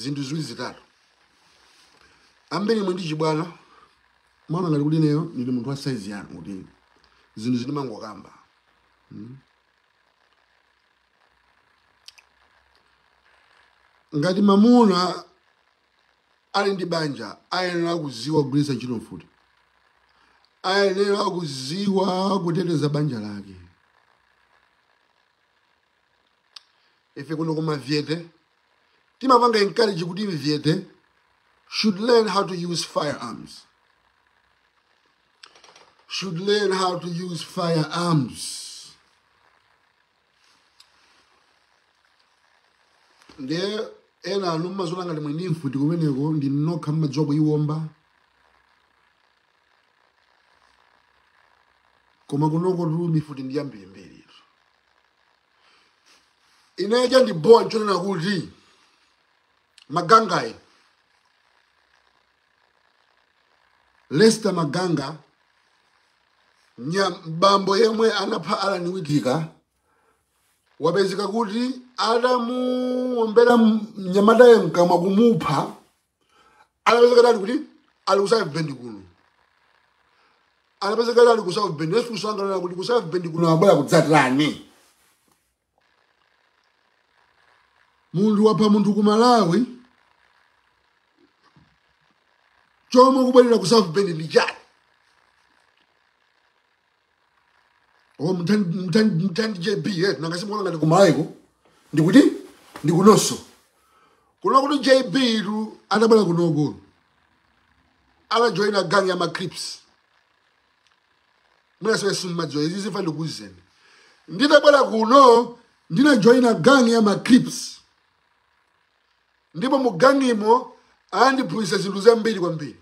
zinthu ziwiri zitatu zimene imwe ndi chibwana mwana ngati kuti ineyo ndili munthu wa saizi yanu kuti zinthuzi ndimangokamba ngati mamuna ali ndi banja ayenera kuziwa kugwiritsa ntchito mfuti ayenera kuziwa kuteteza banja lake ife kuno kumavyete timapanga encourage kuti mvyete should learn how to use firearms should learn how to use firearms ndiye enanu mmaziona ngati mwini mfuti kumeneko ndi nokha mmadziwa kuyiwomba koma kunokotu mifuti ndi yambirimbiri ine chandibowa nchonena kuti magangayi lester maganga nyamata yemwe anapha alani witika wapezeka kuti adamuombera mnyamatayo mkamwa kumupha anapezeka atani kuti ali ku south bend kuno anapezeka ali ku south bend akusangalala kuti ku south bend kuno abwera kudzatani munthu wapha munthu ku malawi choma kubwerera ku south bend ndi chani o ntani jb eh, nanga simuona ngati kumaiko ndikuti ndikunoso kuno kuti jbtu atabwera kunoko anajoina gang ya macrips mwinasowe simumadziwa izi ifa ndikuuzeni nditabwera kuno ndinajoina gang ya macrips ndipo mu gangimo anandiphunzitsa zinthu zambiri kwambiri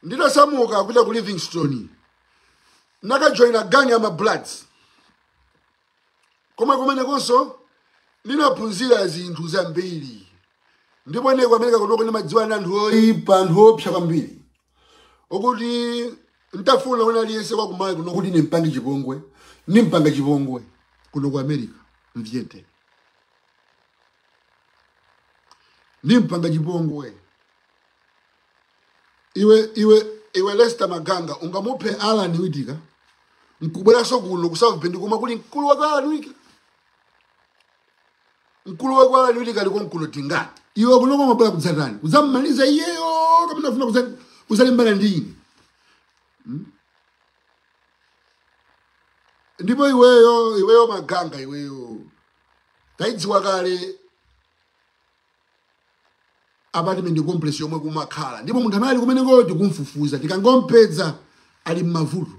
ndinasamuka kupita ku livingston nakajoyina gangi ya mabloods koma kumenekonso ndinaphunzira zinthu zambiri ndipo ine ku america kunoko ndimadziwana ndi anthu oyipa anthu opsa kwambiri okuti ntafuna wina aliyense wakumaiko kuno kuti nimpange chipongwe nimpanga chipongwe kuno ku america mvyete nimpanga chipongwe iwe iwe iwe lester maganga ungamuphe alan witika nkubweranso kuno ku south bend koma kuli mkulu wake alan witika mkulu wake alan witika aliko mkuno mungati iwe kunoko mabwera kudzatani kudzamumaliza iyeyo kapena ufuna kudza- kudzalimbana ndi ine ndipo iweyo iweyo maganga iweyo tayidziwa kale apartment complex yomwe kumakhala ndipo munthu amene ali kumeneko tikumfufuza tikangompeza ali mmavuto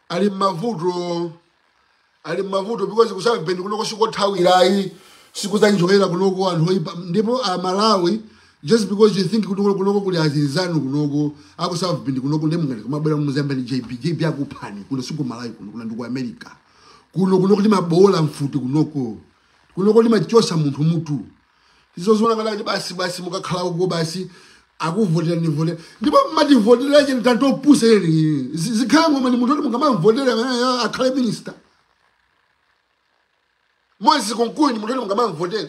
ali mmavuto ali mmavuto because ku south bend kunoko sikothawirayi sikuzanjoyera kunoko anthu oyipa ndipo amalawi just because you think kunoko kunoko kuli azinzanu kunoko aku south bend kunoko ndiye mungati kumabwera mozemba ni jb jb akuphani kuno sikumalawi kuno kuno ndi ku america kuno kuno timaboola mfuti kunoko kunoko timachotsa munthu mutu muzidziona ngati kuti basi basi mukakhala uko basi akuvotera ndivotera ndipo mmativotera chani anthu opusa inu zikhale ng'oma ndi munthu oti mungamamvotera amene akhale minista moses kunkuyu ndi munthu oti mungamamvotera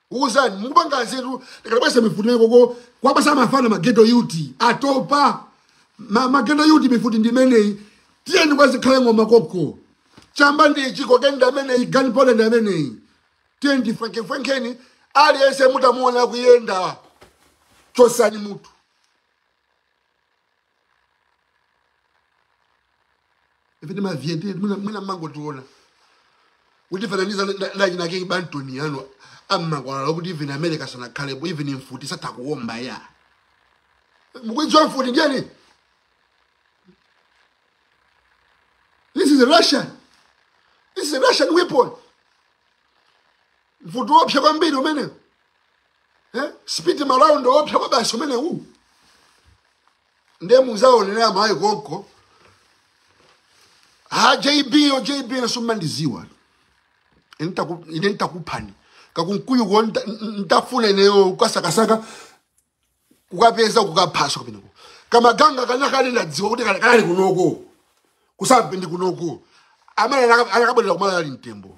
Uzani mukupanga anzeru tikabweretsa mifuti nayo koko kuwapatsa mafana maghetto youth atopa ma, maghetto youth mifuti ndi imeneyi tiyeni kwazikhale ng'oma koko chamba ndi ichi kokeni ndi ameneyi gun powder ndi ameneyi tiyeni tifwenkefwenkeni aliyense mutamuona kuyenda chotsani mutu ife timaviyendatu mwina mwina mmangotiona kutifananiza ndi anzanu anakebantoni anu ammakwalala kuti even america sanakhalepo even mfuti satha kuomba ya mukuidziwa mfuti nchiyani this is a russian this is a russian weapon mfuti wopsa kwambiri umenewo eh? speed ma round oopsa kwabasi umene uwu ndiye muzaonera mayi konko ha jb yo jb nanunso mmandiziwa Ine nitaku- ine nditakuphani kakunkuyu ko nta- n- ntafuna ineyo kukasakasaka kukapeza kukaphaso kameneko kamaganga kalekale ndadziwa kuti kana- kanali kunoko ku south bend kunoko amene anaka- anakabwerera kumalawi ali mtembo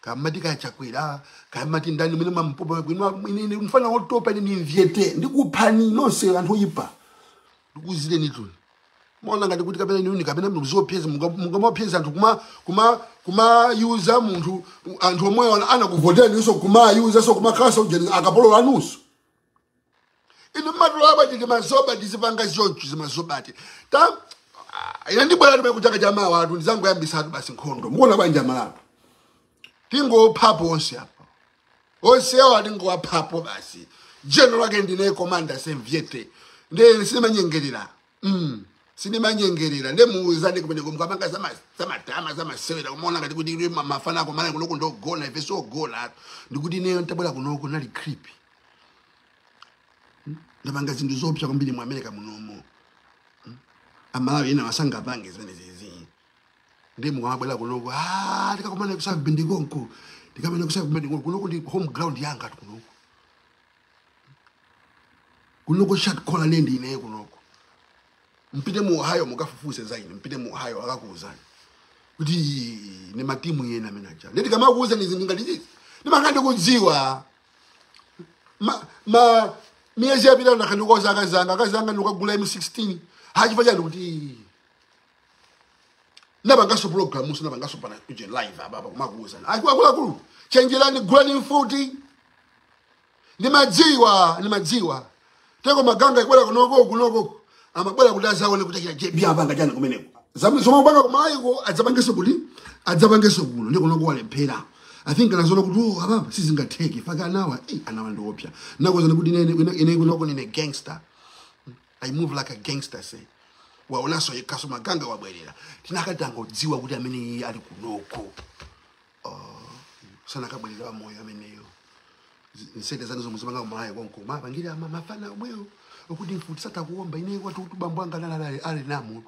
kamati ka chakwera kamati ndani mene mampopa kwino ine ndi mfana wotopa ine ndimvetse ndikuphani nonse anthu oyipa ndikuuzirenitu ni maona ngati kuti kapena niuni kapena muzopyeza mungamapyeza anthu kuma kuma kumauza munthu anthu omwe ana- anakuvoteraninso kumauza so kumakhala sojani akapolo anunso inu mmatitola bwanji ndi mazoba ndikupanga zonchi za mazoba eti ta ah, ine ndibwera kumene chaka cha mawa atu ndizangoyambisa atu basi nkhondo mukuona bwanji amalawi tingophapo onse apa onse awo atingowaphapo basi jeno lake ndine komanda simpyete nde sindimanyengerera mm. sindimanyengerera nde muuzane kumene kumkapanga zamadama zamasewera kumaona ngati kuti ine ma- mafana a ku Malawi kunoku ndi ogona ife si ogona ndikuti ineyo ntabwera kunoku ndinali creepy ndapanga zinthu zoopsa kwambiri mu america munomo Hmm? amalawi ena sangapange zimenezezi ndi mukamabwera kunoko "Ah, tikakumana ku sakabindi konko tikamenye ku sakabindi konko kunoko ndi home ground yanga eti kunoko kunoko shot caller ndi ineyo kunoko mpite mu ohio mukafufuze za ine mpite mu ohio akakuuzani kuti ndi mutu wina ameneuja ndikamakuuzani zinthu ngati zizi ndimakhala ndikudziwa ma ma miyezi yapitayi ndakhala ndikuwauza akazi anga akazi anga ndikukagula m16 chifukwa chani kuti "Ii, napangaso programu sinapangaso pa uje live apa apa amakuuzana akuluakulu chenjerani gulani mfuti ndimadziwa ndimadziwa teko maganga abwera kunoko kunoko amabwera kuti azaone kuti akuchita jb apanga chani kumeneko Zam- zomwe akupanga kumayiko adzapangenso kuti adzapangenso kuno ndi kunoko walephera i think anazoona kuti oh ababa sizingatheke akanawa eh, anawa ndi oopsa ndakuuzani kuti ine- ine ine kunoko ndine gangster i move like a gangster say waonanso yekha so maganga wabwerera tinakatangodziwa kuti ameneyo ali kunoko uh, sanakabwerera wa moyo ameneyo Z- nsete zanu zomwe mzipanga ku Malawi konko muwapangire ama mafana omwewo okuti mfuti satha kuomba ine kwathu kuti bambo anga naye anali ali namo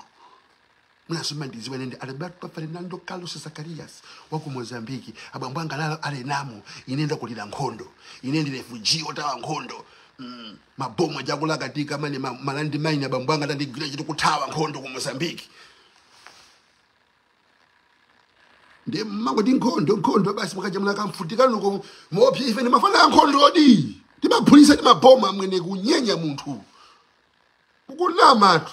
anthu simumandidziwa ine ndi alberto fernando carlos zacarias wa ku mozambique abambo anga anali namo ine ndakulira nkhondo ine ndi refugee othawa nkhondo Mm, mabomba akulakatika ma ma- malandi maini abambo anga atandigwira chotchi kuthawa nkhondo ku mozambique ndiye mmangoti nkhondo nkhondo basi mukajambula kamfuti kanuko muopsa ife ndi mafana a nkhondodi timaphulisa ndi mabomba amwene kunyenya munthu kukunamatu